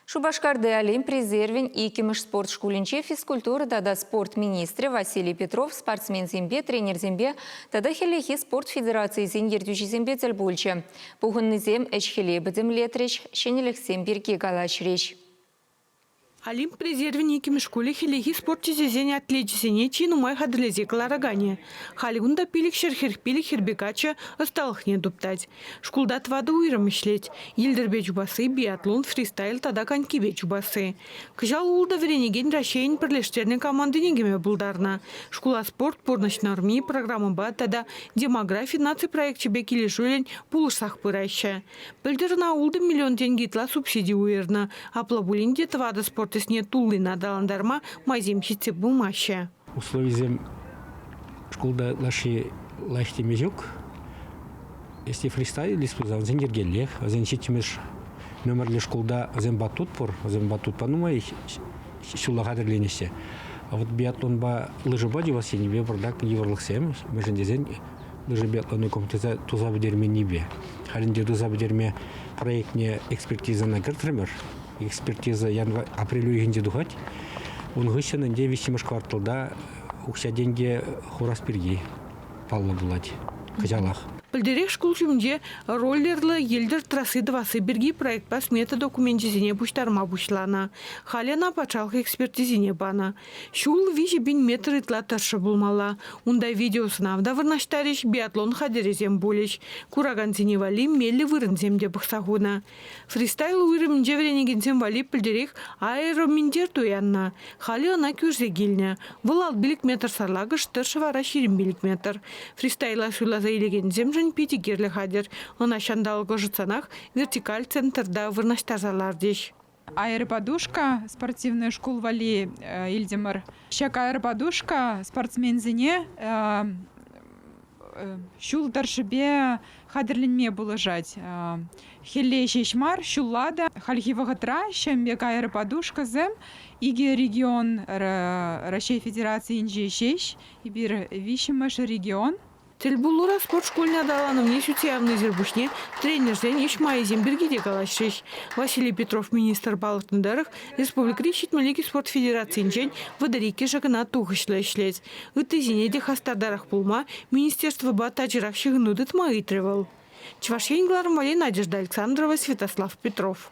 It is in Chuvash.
Шупашкарти Олимп резервӗн иккӗмӗш спорт шкулӗнче физкультура тата спорт министрӗ Василий Петров спортсменсемпе, тренерсемпе тата хӗллехи спорт федерацийӗсен ертӳҫисемпе тӗл пулчӗ. Пухӑннисем ӗҫ-хӗле пӗтӗмлетрӗҫ, ҫӗнӗлӗхсем пирки калаҫрӗҫ. Олимп резервӗн иккӗмӗш шкулӗ хӗллехи спорт тӗсӗсен атлечӗсене чи нумай хатӗрлесе кӑлараканӗ. Халь кунта пилӗк ҫӗр хӗр пилӗк хӗрпе каччӑ ӑсталӑхне туптать. Шкулта тӑватӑ уйрӑм ӗҫлет. Йӗлтӗрпе чупасси, биатлон, фристайл тата конькипе чупасси. Кӑҫал ултӑ вӗренекен Раҫҫейӗн пӗрлештернӗ командине кӗме пултарнӑ. Шкула спорт, пурнӑҫ норми, программӑпа тата демографи наци проекчӗпе килӗшӳллӗн пулӑшсах пыраҫҫӗ. Пӗлтӗр ӑна ултӑ миллион тенкӗ ытла субсиди уйӑрнӑ. Апла пулин те тӑватӑ спорт ӗҫне туллин аталантарма майсем ҫитсе пымаҫҫӗ. Условисем шкулта ытлашши лайӑх теме ҫук. Если фристайлись, то вӗсен йӗркеллех. Вӗсен ҫиччӗмӗш номерлӗ шкулта вӗсем батут пур. Вӗсем батутпа нумай ҫула хатӗрленеҫҫӗ. А вот биатлонпа лыжӑпа тивас енӗпе пӑртак йывӑрлӑхсем, мӗншӗн тесен лыжӑ биатлонником туса пӗтерменнипе. Халь ӗнтӗ туса пӗтерме проектне экспертизӑна кӗртрӗмӗр. Экспертиза январь, апрель уйӑхӗнче тухать. Ун хыҫҫӑн ӗнтӗ виҫҫӗмӗш кварталта укҫа-тенкӗ хурас пирки паллӑ пулать кӑҫалах. Пӗлтӗрех шкул ҫумӗнче роллерлӑ йӗлтӗр трасси тӑвасси пирки проектпа смета докуменчӗсене пуҫтарма пуҫланӑ. Халӗ ӑна патшалӑх экспертизине панӑ. Ҫул виҫӗ пин метр ытла тӑршшӗ пулмалла. Унта видеосӑнав та вырнаҫтарӗҫ, биатлон хатӗрӗсем пулӗҫ. Куракансене валли меллӗ вырӑнсем те пӑхса хунӑ. Фристайл уйрӑмӗнче вӗренекенсем валли пӗлтӗрех аэроминтер туяннӑ. Халӗ ӑна кӳрсе килнӗ. Вӑл алт пилӗк метр сарлакӑш, тӑршшӗ вара ҫирӗм пилӗк метр. Фристайла суйласа илекенсемшӗн питӗ кирлӗ хатӗр. Ӑна ҫанталӑк ӑшӑтсанах вертикаль центрта вырнаҫтарса лартӗҫ. Аэроподушка спортивнӑй шкул валли илтӗмӗр. Ҫак аэроподушка спортсменсене Ҫул тӑршшӗпе хатӗрленме пулӑшать. Хӗлле ҫеҫ мар, ҫулла та. Хальхи вӑхӑтра ҫемпе кайӑр подушкӑсем икӗ регион Раҫҫей Федерацийӗнче ҫеҫ, эпир виҫҫӗмӗш регион. Тӗлпулура спорт шкулӗн аталанӑвне ҫутсе явнисӗр пуҫне тренерсен ӗҫ майӗсем пирки те калаҫрӗҫ. Василий Петров министр палӑртнӑ тӑрӑх, республикӑри ҫитмӗлӗк спорт федерацийӗнчен вӑтӑр иккӗшӗ кӑна тухӑҫлӑ ӗҫлет. Ыттисене те хастартарах пулма министерствӑпа тачӑрах ҫыхӑну тытма ыйтрӗ вӑл. Чӑваш Ен кӑларӑмварӗ Надежда Александрова, Святослав Петров.